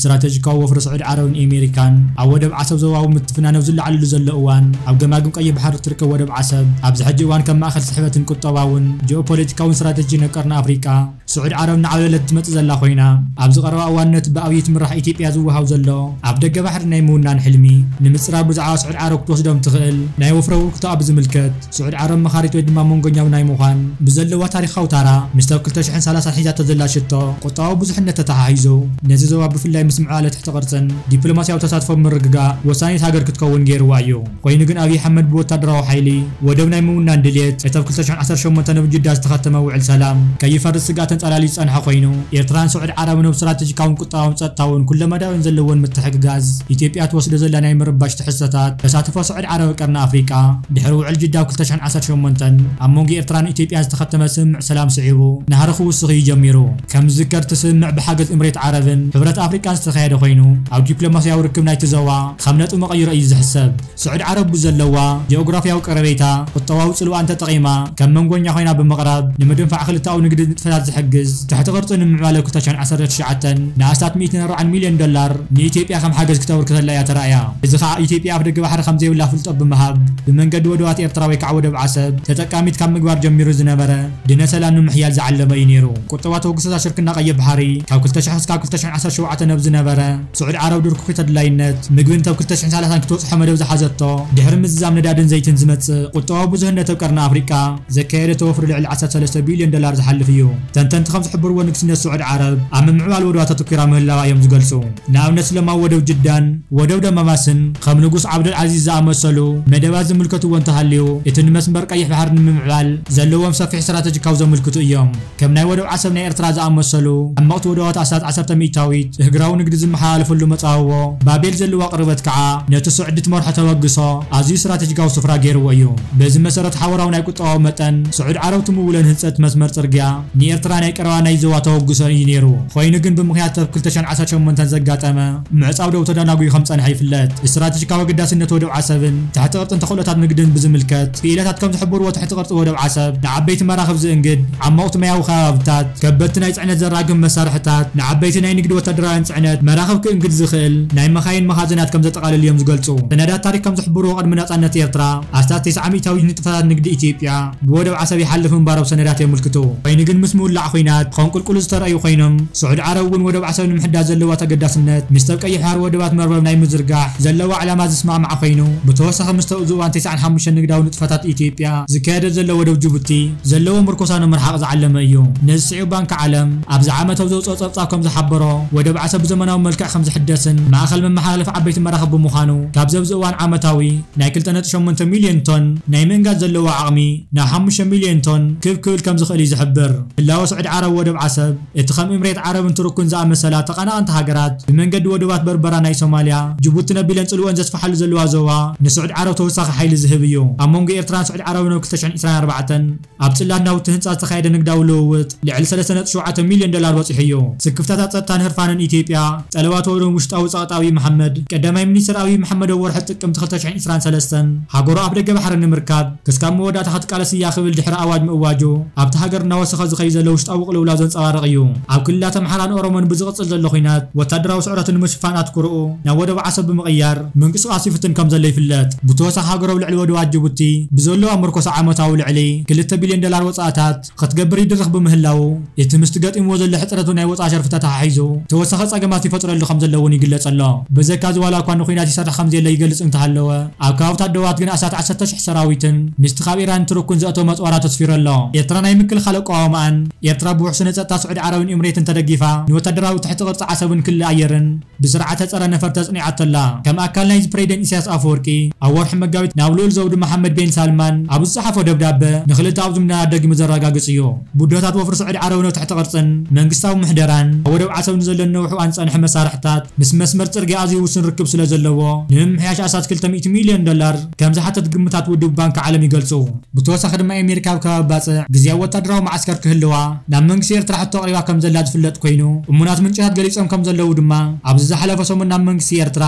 ስትራተጂካዊ ወፍሪ ስዑዲ ዓረብን ኤሜሪካን ኣብ ወደብ ዓሰብ ዞባዊ ምትፍናን ኣብ ዝለዓለሉ ዘሎ እዋን፣ ኣብ ገማግም ቀይሕ ባሕሪ እትርከብ ወደብ ዓሰብ፣ ኣብዚ ሕጂ እዋን ከም ማእከል ስሕበትን ቁጠባውን ጂኦፖለቲካውን ስትራተጂ ን ቀርኒ ኣፍሪቃ፣ ስዑዲ ዓረብ እናዓብለለት እትመጽእ ዘላ ኮይና፣ ኣብዚ ቀረባ እዋን ነቲ ብኣብይ እትምራሕ ኢትዮጵያ ዝወሃብ ዘሎ ኣፍ ደገ ባሕሪ ናይ ምውናን ሕልሚ ንምጽራር ብዛዕባ ስዑዲ ዓረብ ክትወስዶም እትኽእል ናይ ወፍሪ ኣበርክቶኣ ብዝምልከት፣ ስዑድ ዓረብ መኻሪት ወይ ድማ መንጎኛዊ ናይ ምዃን ብዘለዋ ታሪኻዊ ታራ ምስቲ ኣብ ክልተ ሽሕን ሰላሳን ሒዛቶ ዘላ ሽቶ ቁጠባዊ ብዙሕነት ተተሓሒዙ ነዚ ዞባ ብፍላይ ምስ ምዕባለ ትሕቲ ቅርጽን ዲፕሎማስያዊ ተሳትፎን ምርግጋእ ወሳኒት ሃገር ክትከውን ገይርዋ እዩ። ኮይኑ ግን ኣብይ ኣሕመድ ብወታደራዊ ሓይሊ ወደብ ናይ ምውናን ድልየት እቲ ኣብ ክልተ ሽሕን ዓሰርተ ሸሞንተን ኣብ ጅዳ ዝተኸተመ ውዕል ሰላም ከይፈርስ ስግኣት ተንጸላልዩ ዝጸንሐ ኮይኑ ኤርትራን ስዑድ ዓረብን ኣብ ስትራተጂካውን ቁጠባውን ጸጥታውን ኩለመዳያዊን ዘለወን ምትሕግጋዝ ኢትዮጵያ ትወስዶ ዘላ ናይ ምርባሽ ትሕዝቶታት ተሳትፎ ዓረብ ቀርኒ ኣፍሪቃ፣ ድሕሪ ውዕል ጅዳ ክልተ ሽሕን ዓሰርተ ሸሞንተን ኣብ መንጎ ኤርትራን ኢትዮጵያን ዝተኸተመ ስምምዕ ሰላም ስዒቡ ናህሪ ክውስኽ እዩ ጀሚሩ። ከም ዝዝከር እቲ ስምምዕ ብሓገዝ እምሬት ዓረብን ሕብረት ኣፍሪቃን ዝተኻየደ ኮይኑ ኣብ ዲፕሎማስያዊ ርክብ ናይቲ ዞባ ከም ነጥቢ መቐይሮ እዩ ዝሕሰብ። ስዑድ ዓረብ ብዘለዋ ጂኦግራፍያዊ ቀረቤታ ቁጠባዊ ጽልዋኣን ተጠቒማ ከም መንጎኛ ኮይና ብምቕራብ ንምድንፋዕ ክልተኣዊ ንግዲ ንጥፈታት ዝሕግዝ ትሕቲ ቅርጺ ንምዕባለ ክልተ ሽሕን ዓሰርተ ትሽዓተን ንኣስታት ሚእትን ኣርባዓን ሚልዮን ዶላር ንኢትዮጵያ ከም ሓገዝ ክተበርክተላ እያ ተራእያ። እዚ ከኣ ኢትዮጵያ ኣፍደገ ባሕሪ ከምዘይብላ ፍልጦ ብምሃብ ብመንገዲ ወደባት ኤርትራ ወይ ከኣ ወደብ ዓሰብ ተጠቃሚት ካብ ምግባር ጀሚሩ ዝነበረ ድነ ሰላም ንምሕያል ዝዓለመ እዩ ነይሩ። ቁጠባ ተበግሶታት ሽርክና ቀይሕ ባሕሪ ካብ ክልተ ሽሕ ክስካብ ክልተ ሽሕን ዓሰርተ ሸውዓተን ብ ዝነበረ ስዑድ ዓረብ ድርኩኺት ኣድላይነት ምግብን ተብ ክልተ ሽሕን ሰላሳን ክትበጽሖ መደብ ዝሓዘቶ ድሕሪ ምዝዛም ነዳድን ዘይትን ዝመጽእ ቁጠባዊ ብዙህነት ብ ቀርኒ ኣፍሪቃ ዘካየደቶ ወፍሪ ልዕሊ ዓሰርተ ሰለስተ ቢልዮን ዶላር ዝሓልፍ እዩ። ተንተንቲ ከም ዝሕብርዎ ንግስነት ስዑድ ዓረብ ኣብ ምምዕባል ወደባት ኣተኲራ ምህላዋ እዮም ዝገልጹ። ንኣብነት ስለማዊ ወደብ ጅዳን ወደብ ደማማስን ከም ንጉስ ዓብደል ዓዚዝ ዝኣመሰሉ መደባት ዝምልከትዎ እንተሃልዩ እቲ ንመስመር ቀይሕ ባሕሪ ንምምዕባል ዘለዎም ሰፊሕ ስትራተጂካዊ ዘምልክቱ እዮም። ከም ናይ ወደብ ዓሰብ ናይ ኤርትራ ዝኣመሰሉ ዓመቕቲ ወደባት ኣስታት ዓሰርተ ሚእታዊት እህግራዊ ንግዲ ዝመሓላለፈሉ መጻብቦ ባቤል ዘለዋ ቅርበት ከኣ ነቲ ስዑዲ ትመርሖ ተበግሶ ኣዝዩ ስትራተጂካዊ ስፍራ ገይርዎ እዩ። በዚ መሰረት ሓበራዊ ናይ ጦ መጠን፣ ስዑድ ዓረብ ትምውሎ ንህንጸት መስመር ጽርግያ፣ ንኤርትራ ናይ ቀረባ ናይ ዞባ ተበግሶ እዩ ነይሩ። ኮይኑ ግን ብምኽንያት ተርፍ ክልተ ሽሕን ዓሰርተ ሸሞንተን ዘጋጠመ ምዕጻው ደው ተዳናጉዩ ከም ዝጸንሐ ይፍለጥ። ስትራተጂካዊ ኣገዳስነት ወደብ ዓሰብን ትሕቲ ቅርጽን ተኽእሎታት ንግድን ብዝምልከት ክኢላታት ከም ዝሕብርዎ ትሕቲ ቅርጺ ወደብ ዓሰብ ንዓበይቲ መራኽብ ዝእንግድ፣ ዓሞቕቲ ማያዊ ከባብታት፣ ከበድቲ ናይ ጽዕነት ዘራግፍ መሳርሕታት፣ ንዓበይቲ ናይ ንግዲ ወታደራውያን ጽዕነት መራኽብ ክእንግድ ዝኽእል ናይ መካይን መኻዝናት ከም ዘጠቓልል እዮም ዝገልጹ። ሰነዳት ታሪኽ ከም ዝሕብርዎ ቅድሚ ናጻነት ኤርትራ፣ ኣስታት ተስዓ ሚእታዊት ንጥፈታት ንግዲ ኢትዮጵያ ብወደብ ዓሰብ ይሓልፉ ምንባሮም ሰነዳት የምልክቱ። ኮይኑ ግን ምስ ምውላዕ ኹናት ከንቁልቁሉ ዝተረኣዩ ኮይኖም፣ ስዑድ ዓረብ እውን ወደብ ዓሰብ ንምሕዳስ ዘለዋ ተገዳስነት ምስቲ ኣብ ቀይሕ ባሕሪ ወደባት መርበብ ናይ ምዝርጋሕ ዘለዋ ዕላማ ዝስማዕማዕ ኮይኑ፣ ብተወሳኺ ምስቲ ኣብዚ እዋን ተስዓን ሓሙሽተን ንግዳዊ ንጥፈታት ኢትዮጵያ ዝካየደሉ ዘሎ ወደብ ጅቡቲ ዘለዎ ምርኮሳ ንምርሓቕ ዝዓለመ እዩ። ነዚ ስዒቡ ባንኪ ዓለም ኣብዚ ዓመት ኣብ ዘውጽኦ ጸብጻብ ከም ዝሓበሮ፣ ወደብ ዓሰብ ብዘመናዊ መልክዕ ከም ዝሕደስን ማእከል መመሓላለፊ ዓበይቲ መራኽብ ብምዃኑ ካብዚ ኣብዚ እዋን ዓመታዊ ናይ ክልተ ነጥቢ ሸሞንተ ሚልዮን ቶን ናይ ምእንጋድ ዘለዎ ዓቕሚ ናብ ሓሙሽተ ሚልዮን ቶን ክብ ክብል ከምዝኽእል እዩ ዝሕብር። ህላወ ስዑዲ ዓረብ ወደብ ዓሰብ፣ እቲ ከም ኢምሬት ዓረብን ቱርክን ዝኣመሰላ ተቐናቐንቲ ሃገራት ብመንገዲ ወደባት በርበራ ናይ ሶማልያ፣ ጅቡቲ ነቢለን ጽልወን ዘስፍሓሉ ዘለዋ ዞባ ንስዑዲ ዓረብ ተወሳኺ ሓይሊ ዝህብ እዩ። ኣብ መንጎ ኤርትራን ስዑዲ ዓረብንኣብ ክልተ ሽሕን ዒስራን ኣርባዕተን፣ ኣብ ጽላት ናውቲ ህንጻ ዝተኻየደ ንግዳዊ ልውውጥ ልዕሊ ሰለስተ ነጥቢ ሸውዓተ ሚልዮን ዶላር በጺሑ'ዩ። ስክፍታታት ጸጥታን ህርፋንን ኢትዮጵያ፣ ጠለባት ወገን ውሽጣዊ ጸቕጢ ኣብይ መሓመድ፣ ቀዳማይ ሚኒስተር ኣብይ መሓመድ ኣብ ወርሒ ጥቅምቲ ክልተ ሽሕን ዕስራን ሰለስተን፣ ሃገሩ ኣፍደገ ባሕሪ ንምርካብ ክስካብ መወዳእታ ክትቃለስ እያ ክብል ድሕሪ ኣዋጅ ምእዋጁ፣ ኣብታ ሃገር እናወሰኸ ዝኸይድ ዘሎ ውሽጣዊ ቅልውላው ዘንጸባርቕ እዩ። ኣብ ክልላት ኣምሓራን ኦሮሞን ብዝቕጽል ዘሎ ኲናት፣ ወታደራዊ ስዕረቱ ንምሽፋን ኣትኩሮኡ ናብ ወደብ ዓሰብ ብምቕያር፣ ምንቅስቓስ ይፍትን ከምዘሎ ይፍለጥ። ብተወሳኺ ሃገር ኣብ ልዕሊ ወደባት ጅቡቲ ብዘለዋ ምርኮሳ ዓመታዊ ልዕሊ ክልተ ቢልዮን ዶላር ወጻእታት ኽትገብር ይድርኽ ብምህላዉ እቲ ምስቲ ገጢምዎ ዘሎ ሕጽረት ናይ ወጻኢ ሸርፊ ተተሓሒዙ ተወሳኺ ጸገማት ይፈጥረሉ ከምዘሎ እውን ይግለጽ ኣሎ። በዘካ እዚ ዋላ እኳ ንኲናት ይሰርሕ ከምዘየለ ይገልጽ እንተሃለወ ኣብ ከባብታት ዶባት ግን ኣስታት ዓሰርተ ሽሕ ሰራዊትን ምስቲ ካብ ኢራንን ቱርክን ዘእተዎ መጽዋራት ኣስፊሩ ኣሎ። ኤርትራ ናይ ምክልኻል ኣቋውማኣን ኤርትራ ብውሕስነት ጸጥታ ስዑዲ ዓረብን ኢምሬትን ተደጊፋ ንወታደራዊ ትሕቲ ቅርጺ ዓሰብን ክሊ ኣየርን፣ ብስርዓተ ጸረ ነፈርቲ ኣጽኒዓቶ ኣላ። ከም ኣካል ናይዚ ፕሬዚደንት ኢሳያስ ኣፈወርቂ ኣብ ወርሒ መጋቢት ናብ ልኡል ዘውዱ መሓመድ ቤን ሳልማን ኣብ ዝጸሓፎ ደብዳበ ንክልተኣዊ ዝምድናታት ደጊሙ ዘረጋግጽ እዩ። ቡድሆታት ወፍሪ ስዑዲ ዓረብን ኣብ ትሕቲ ቅርጽን መንግስታዊ ምሕደራን ኣብ ወደብ ዓሰብ ንዘለን ነውሕኣን ዝጸንሐ መሳርሕታት ምስ መስመር ጽርግያ ኣዝዩ ውሱን ርክብ ስለዘለዎ ንምምሕያሽ ኣስታት ክልተ ሚእቲ ሚልዮን ዶላር ከምዝሓተት ግምታት ውድብ ባንኪ ዓለም ይገልጹ። ብተወሳኺ ድማ ኤሜሪካ ኣብ ከባቢ ባጽዕ ግዝያዊ ወታደራዊ መዓስከር ክህልዋ ናብ መንግስቲ ኤርትራ ሕቶ ኣቕሪባ ከምዘላ ዝፍለጥ ኮይኑ እሙናት ምንጭታት ገሊጾም ከምዘለዉ ድማ ኣብዚ ዝሓለፈ ሰሙን ናብ መንግስቲ ኤርትራ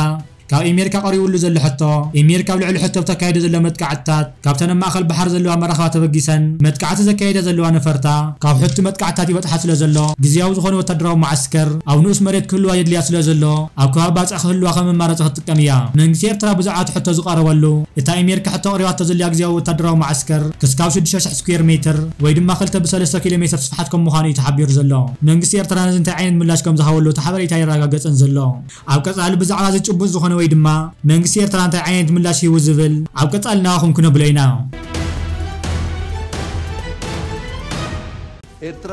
ካብ ኤሜሪካ ቀሪብሉ ዘሎ ሕቶ ኤሜሪካ ኣብ ልዕሊ ሕቶ ብተካይዶ ዘሎ መጥቃዕትታት ካብተን ኣብ ማእከል ባሕሪ ዘለዋ መራኽባ ተበጊሰን መጥቃዕቲ ዘካይዳ ዘለዋ ነፈርታ ካብ ሕቶ መጥቃዕትታት ይበጽሓ ስለዘሎ ግዝያዊ ዝኾነ ወታደራዊ መዓስከር ኣብ ንኡስ መሬት ክህልዋ የድልያ ስለዘሎ ኣብ ከባቢ ባጽዕ ክህልዋ ከም መማረጺ ክትጥቀም እያ። መንግስቲ ኤርትራ ብዙዓት ሕቶ ዝቐረበሉ፣ እታ ኤሜሪካ ሕቶ ኣቕሪባቶ ዘላ ግዝያዊ ወታደራዊ መዓስከር፣ ክስካብ ሽዱሽተ ሽሕ ስኲየር ሜትር፣ ወይ ድማ ክልተ ብሰለስተ ኪሎ ሜትር ስፍሓት ከም ምዃኑ እዩ ተሓቢሩ ዘሎ። መንግስቲ ኤርትራ ነዚ እንታይ ዓይነት ምላሽ ከም ዝሃበሉ እቲ ሓበሬታ ኣየረጋገጸን ዘሎ። ኣብ ቀጻሊ ብዛዕባ እዚ ጭቡጥ ዝኾነ ወይ ድማ መንግስቲ ኤርትራ እንታይ ዓይነት ምላሽ ሂቡ ዝብል ኣብ ቀጻሊ ናባኹም ክነብሎ ኢና። ኤርትራ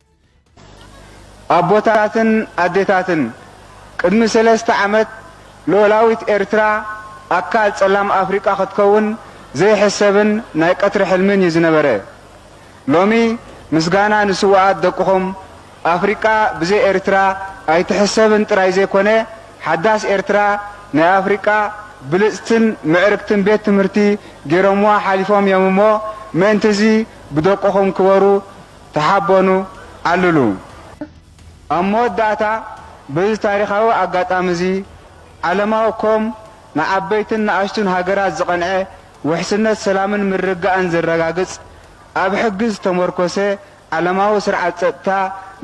ኣቦታትን ኣዴታትን፣ ቅድሚ ሰለስተ ዓመት ልኡላዊት ኤርትራ ኣካል ጸላም ኣፍሪቃ ክትከውን ዘይሕሰብን ናይ ቀትሪ ሕልምን እዩ ዝነበረ። ሎሚ ምስጋና ንስዉኣት ደቅኹም፣ ኣፍሪቃ ብዘይ ኤርትራ ኣይትሕሰብን ጥራይ ዘይኮነ፣ ሓዳስ ኤርትራ ናይ ኣፍሪቃ ብልጽትን ምዕርግትን ቤት ትምህርቲ ገይሮምዋ ሓሊፎም እዮም እሞ ምእንቲ'ዚ ብደቅኹም ክበሩ ተሓበኑ ኣልሉ። ኣብ መወዳእታ በዚ ታሪኻዊ ኣጋጣሚ'ዚ ዓለማዊ ኮም ንዓበይትን ንኣሽቱን ሃገራት ዝቐንዐ ውሕስነት ሰላምን ምርግጋእን ዘረጋግጽ ኣብ ሕጊ ዝተሞርኮሰ ዓለማዊ ስርዓት ጸጥታ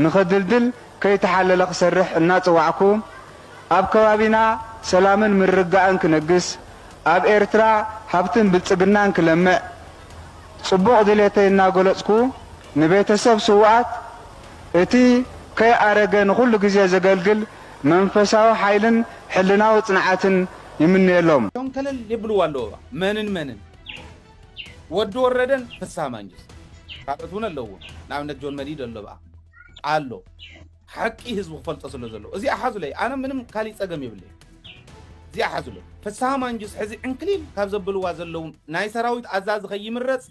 ንኽድልድል ከይተሓለለ ክሰርሕ እናጸዋዕኩ ኣብ ከባቢና ሰላምን ምርግጋእን ክነግስ ኣብ ኤርትራ ሃብትን ብልጽግናን ክለምዕ ጽቡቕ ድሌተይ እናገለጽኩ፣ ንቤተሰብ ስዉኣት እቲ ከይኣረገ ንኹሉ ግዜ ዘገልግል መንፈሳዊ ሓይልን ሕልናዊ ጽንዓትን ይምነየሎም። ሸንከለል የብልዋ ኣለዉ መንን መንን ወዲ ወረደን ፍስሃ ማንጁስ ካልኦት ውን ኣለዉዎም ንኣብነት ጆን መዲድ ኣሎ ብኣ ኣሎ። ሓቂ ህዝቢ ክፈልጦ ስለ ዘለዎ እዚኣ ሓዙለይ ኣነ ምንም ካሊእ ፀገም የብለይን እዚኣ ሓዙለይ ፍስሃ ማንጁስ ሕዚ ዕንክሊል ካብ ዘብልዋ ዘለዉ ናይ ሰራዊት ኣዛዚ ከይምረፅ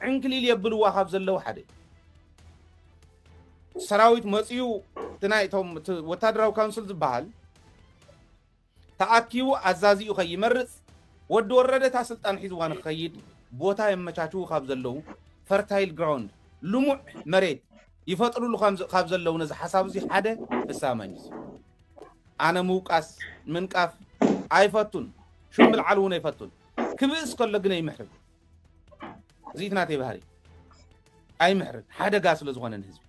ዕንክሊል የብልዋ ካብ ዘለዉ ሓደ እዩ ሰራዊት መፅኡ እቲ ናይ እቶም እቲ ወታደራዊ ካውንስል ዝበሃል ተኣኪቡ ኣዛዚኡ ከይመርፅ ወዲ ወረደ እታ ስልጣን ሒዝዋ ንክኸይድ ቦታ የመቻችዉ ካብ ዘለዉ፣ ፈርታይል ግራውንድ፣ ልሙዕ መሬት፣ ይፈጥርሉ ካብ ዘለዉ ነዚ ሓሳብ እዙይ ሓደ ፍስሃ ማንጁስ እዩ። ኣነ ምውቃስ ምንቃፍ ኣይፈቱን፣ ሹም ምልዓል እውን ኣይፈቱን። ክብእስ ከሎ ግነ ይምሕርግ። እዚት ናተይ ባህሪ ኣይምሕርን ሓደጋ ስለ ዝኾነ ንህዝቢ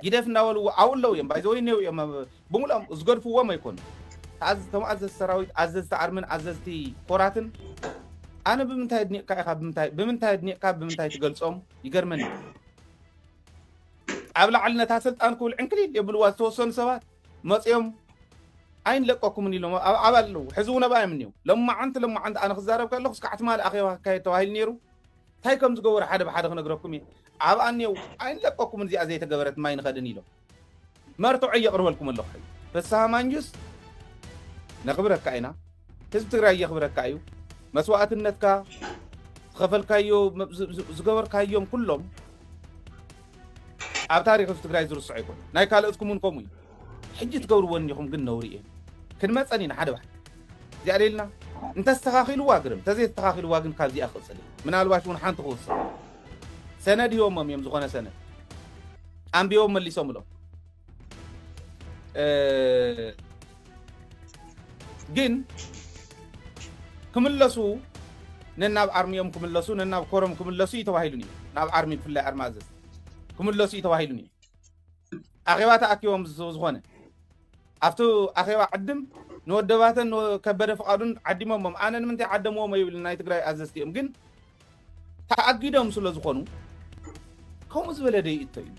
ጊደፍ እናበልዎ ኣብኡ ኣለዉ እዮም ባይዘወይ እኔው እዮም ብምሉኦም ዝገድፍዎም ኣይኮኑ ተም ኣዘዝ ሰራዊት ኣዘዝቲ ኣርምን ኣዘዝቲ ኮራትን ኣነ ብምንታይ ድኒቕካ ኢኻ ብምንታይ ድኒቕካ ብምንታይ ትገልፆም ይገርመኒ ኣብ ላዕሊ ነታ ስልጣን ክብል ዕንክሊል የብልዋ ዝተወሰኑ ሰባት መጺኦም ኣይንለቀኩምን ኢሎም ኣብ ዓባ ኣለዉ ሕዚ እውን ኣብኣ እዮም እኒው ለማዓንቲ ለማዓንቲ ኣነ ክዛረብ ከለኩስ ካዓ ትማሊ ኣኼባ ክካየድ ተባሂሉ ነይሩ እንታይ ከም ዝገበሩ ሓደ ብሓደ ክነግረኩም እየ ኣብኣ እኒው ኣይንለቀኩምን እዚኣ ዘይተገበረት ማይ ንኸድን ኢሎም መርትዖ የቕርበልኩም ኣለኹ ሕዚ ፍስሃ ማንጁስ ነኽብረካ ኢና ህዝቢ ትግራይ የኽብረካ እዩ መስዋእትነትካ ዝኸፈልካዮ ዝገበርካዮም ኩሎም ኣብ ታሪኽ ህዝቢ ትግራይ ዝርሶዕ ኣይኮነን ናይ ካልኦትኩም ውን ከምኡ እዩ። ሕጂ ትገብርዎ እኒኹም ግን ነውሪ እዮ። ክንመፀን ኢና ሓደ ባሕቲ እዚኣ ሌልና እንተስተኻኺልዋ ግርም ተዘየተኻኺልዋ ግን ካብዚኣ ክቕፅል እየ ምናልባሽ ውን ሓንቲ ክውስኽ ሰነድ ሂቦሞም እዮም ዝኾነ ሰነድ ኣንቢቦም መሊሶምሎም። ግን ክምለሱ ነናብ ኣርሚኦም ክምለሱ ነናብ ኮሮም ክምለሱ እዩ ተባሂሉን እዩ ናብ ኣርሚ ብፍላይ ኣርማ እዘዝ ክምለሱ እዩ ተባሂሉን እዩ ኣኼባ ተኣኪቦም ዝኾነ ኣብቲ ኣኼባ ዓድም ንወደባተን ከበደ ፍቃዱን ዓዲሞሞም ኣነ ንምንታይ ዓደምዎም ይብል ናይ ትግራይ ኣዘዝቲ እዮም ግን ተኣጊዶም ስለ ዝኾኑ ከምኡ ዝበለ ደይእቶ እዩ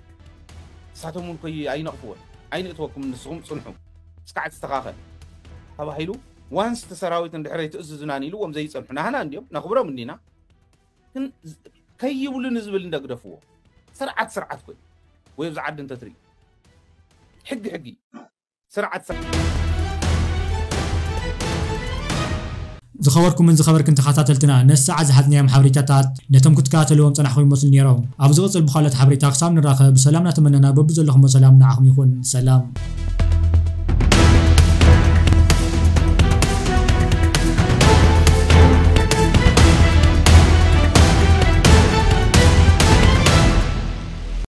ንሳቶም እውን ኮይ ኣይነቕፍዎን ኣይንእትወኩም ንስኹም ፅንሑ እስካዕ ትስተኻኸል ተባሂሉ ዋንስ እቲ ሰራዊት እንድሕረይ ትእዝዙናን ኢሉዎም ዘይፀንሑ ናህና እንዲዮም ነኽብሮም እንዲና ግን ከይብሉ ንዝብል እንደግደፍዎ ስርዓት ስርዓት ኮይ ወይ ኣብዚ ዓዲ እንተትርኢ ሕጊ ሕጊ ስርዓት ስርዓት። ዝኸበርኩምን ዝኸበርክን ተኻታተልትና ነዚ ሰዓት ዝሓዝናዮም ሓብሬታታት ነቶም ክትከታተልዎም ዝጸናሕኹም ይመስሉ ኔሮም ኣብ ዝቕጽል ብኻልኦት ሓብሬታ ክሳብ ንራኸብ ብሰላም እናተመነና በብዘለኹሞ ሰላም ንዓኹም ይኹን ሰላም